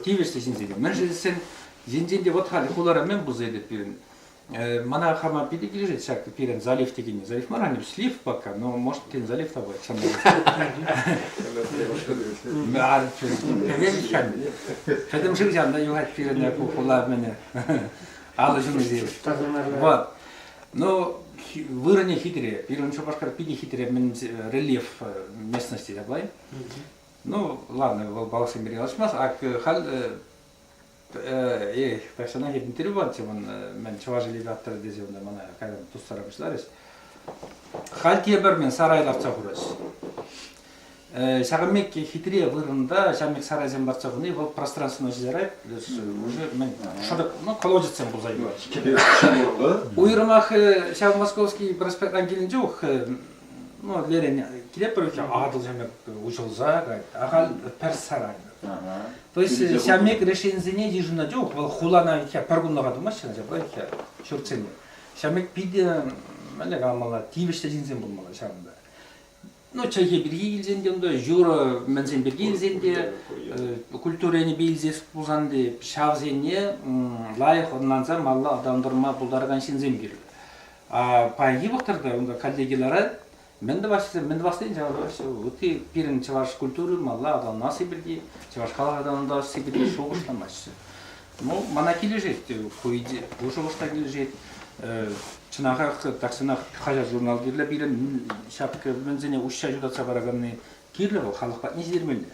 тивӗҫлӗ ҫынсен те. Мӗншӗн тесен енчен те вот халь хулара мӗн пулса пирӗн мана хама питӗ килӗшет ҫак пирӗн залив текенни. Залив мар, они слив пока, но может кинь залив табать Пӗтӗм шывҫан та юхать пирӗн хула мӗне алӑ ҫумӗсем. Вот. Но вырӑнӗ хитре. Пирӗн Шупашкар питӗ хитре рельеф местности япай. Ну, ладно, вӑл балӑхсем пирки калаҫмасть. Ак халь эй, персонаж интервью патчӗ ман, мен чӑваш элиди авторы тесе унта мана кайдан тустара пуҫларӗҫ. Халь тепӗр мен сарай лартса хурӑҫ. Ҫакӑн пек хитре вырӑнта ҫав пек сарайсем лартса хуни вӑл пространственно ҫитӗрать, уже мен шӑрӑк, ну, колодецсем пулса юлать. Уйрӑмах ҫав Московский проспект килнӗ чух Ну, лерен килеп пырча Атӑл ҫамек уҫӑлса кайт. Ахаль пӗр сарай. То есть ҫамек решенисене йышӑнать. Юх, вӑл хулана икӗ пӗр кунлӑха тумаҫҫӗ, ача икӗ ҫуртсене. Ҫамек питӗ мӗнле каламалла, тивӗҫлӗ ҫынсем пулмалла ҫавӑнта. Ну, чӗлхе пирки илсен те унта, юрӑ мӗнсен пирки илсен те, культура енӗпе илсе пулсан те, ҫавсене лайӑх ӑнланса малла аталантарма пултаракан ҫынсем кирлӗ. пай йывӑрттӑр та унта каллеге ларать. Мӗн тӑваҫҫӗ, мӗн тӑвассин ҫавӑраҫҫӗ. Ытти пирӗн чӑваш культури малла аталанасси пирки, чӑваш халӑх аталантарасси пирки шухӑшламаҫҫӗ. Ну, мана килӗшет ку идея, ку шухӑшта килӗшет. Чӑнахах тахҫанах хаҫат-журнал кирлӗ пирӗн. Ҫак мӗнсене уҫҫа ҫутатса параканни кирлӗ вӑл, халӑх патне ҫитермелле.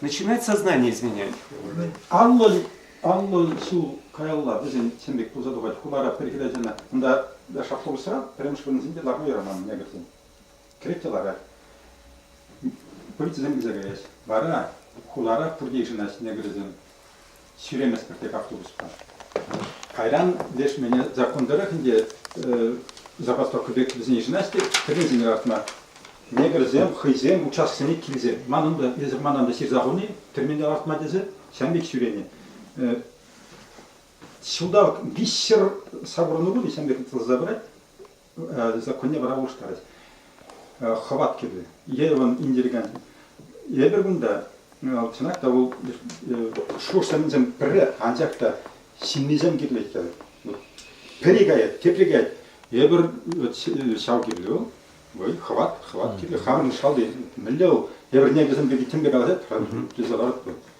Начинать сознание изменять. Анлӑ, анлӑ ҫул каялла вӗсен ҫын пек пулса тухать хулара пӗр хӗрачана. Унта шахтовӑйсра пӗрремӗш вырӑнсенче ларма юраман негрсен. Кӗрет те ларать. Полицисем килсе каяҫ. Вара хулара пурте йышӑнаҫ негрсем. ҫӳреместпӗр тек автобуспа. Кайран леш мене закон тӑрӑх ӗнтӗ забастовка пек вӗсен йышӑнаҫ те кӗренсен лартма. Негрсем хӑйсем участоксене килсен манӑн та эсир манан та ҫырса хуни кӗрменте лартма тесе ҫам пек ҫӳренӗ. Ҫулталӑк виҫҫӗр савӑрну пуль ҫам пек тӑлса пырать. законне вара улӑштарать. Хӑват кирлӗ. Е он индиригантен. Эпир кунта, чӑнах та, вӑл шухӑшсем пӗрре, анчах та ҫыннисем кирлӗ иккен. Пӗри каять, тепри каять. Эпир ҫав кирлӗ вӑл. Вӑй, хӑват, хӑват кирлӗ. Хамӑрӑн шалти мӗнле вӑл? Эпир несӗлсем пирки тем те калаҫать, тесе ларатпӑр.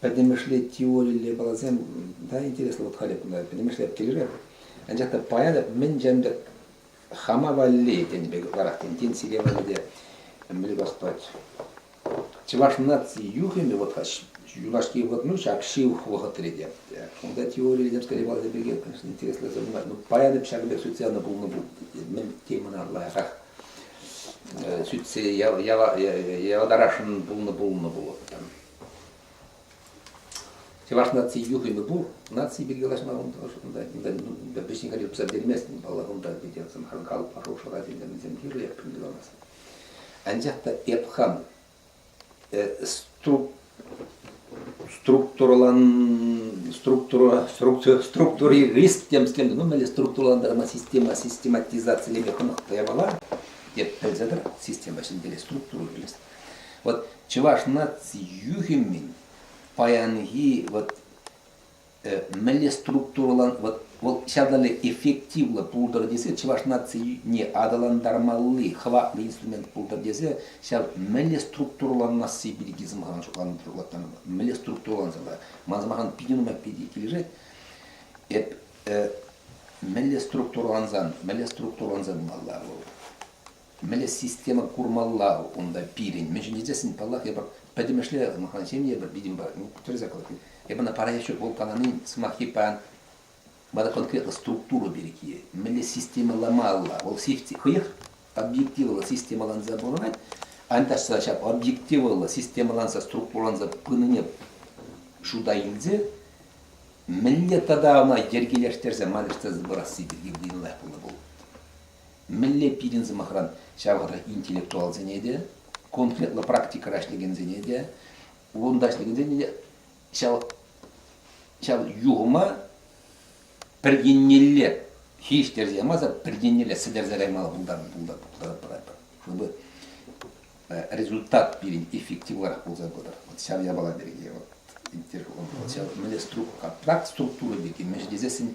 Пӗтӗмӗшле теорилле баласем та интереслӗ вот халӗ пулать, пӗтӗмӗшле килӗшет. Анчах та паятӑп мӗн ҫемдӗ хама валли тен пек ларах тен тен сире валли те мӗн пахпать. Чӑваш наци юхӑмӗ вот юлашки вот ну ҫак шыв вӑхӑтри те. Унта теорийлер скорее баласем пекех, конечно, интереслӗ сӑвӑ. Ну паятӑп ҫак пек социаллӑ пулнӑ пул. Мӗн темӑна лайӑхрах сӳтсе яватарасшӑн пулнӑ пулнӑ пулӑп. Чӑваш наци юхӑмӗ пур, наци пирки калаҫма унта вӗҫне кайса тупса берместӗн, паллах, унта питӗ сӑмхан калӑп, хорошая ради, мӗнсем кирлӗ, ким каламасын. Анчах та эп хам структури риск темскем, ну мӗнле структуралантарма система систематизацилеме хӑнӑхнӑ япала, деп пӗлсе тӑр, система ҫӗнтерес, структура кӗрес. Вот чӑваш наци юхӗмӗн паянхи вот мӗнле структурӑлан вӑл ҫатӑлӗ эффективлӑ пултӑр тесе чӑваш нацине аталантармалли хӑватлӑ инструмент пултӑр тесе ҫав мӗнле структурӑланасси пирки сӑмахран шутлаттармалла мӗнле структурӑлансалла ман сӑмахран питӗ нумай питӗ килӗшет эп мӗнле структурӑлансан мӗнле структурӑланса пымалла вӑл Мӗнле система курмалла унта пирӗн? Мӗн ҫӗнетессин, паллах, эпӗ пӗтӗмӗшле махман ҫемье, эпӗ видимо, тӗрӗсе калаҫни. Эпӗ ӑна паян еще гол каланин сӑмахи паян мана конкретно структура пирки. Мӗнле системӑламалла? Вӑл хӑех объективлӑ системӑланса пурӑнать, аниташса ҫав объективлӑ системӑланса структураланса пынине шута илсе мӗнле тата ӑна йӗркелештерсе манӑҫтарса пырасси пирки нумаях пулнӑ пул. Мӗнле пирӗн сӑмахран ҫав вӑхӑтра интеллектуалсене те, конкретлӑ практикӑра ӗҫлекенсене те, вырӑнта ӗҫлекенсене те ҫав, ҫав юхӑма пӗр еннелле хирӗҫтерсе ямаса пӗр еннелле сӗтӗрсе каймалла пултарать пыратпӑр. Чтобы э, результат пирӗн эффективлӑрах пулса пытӑр. Вот ҫав япала пирки вот интервью вот ҫав мӗнле структура, контракт структура пирки мӗш тесессӗн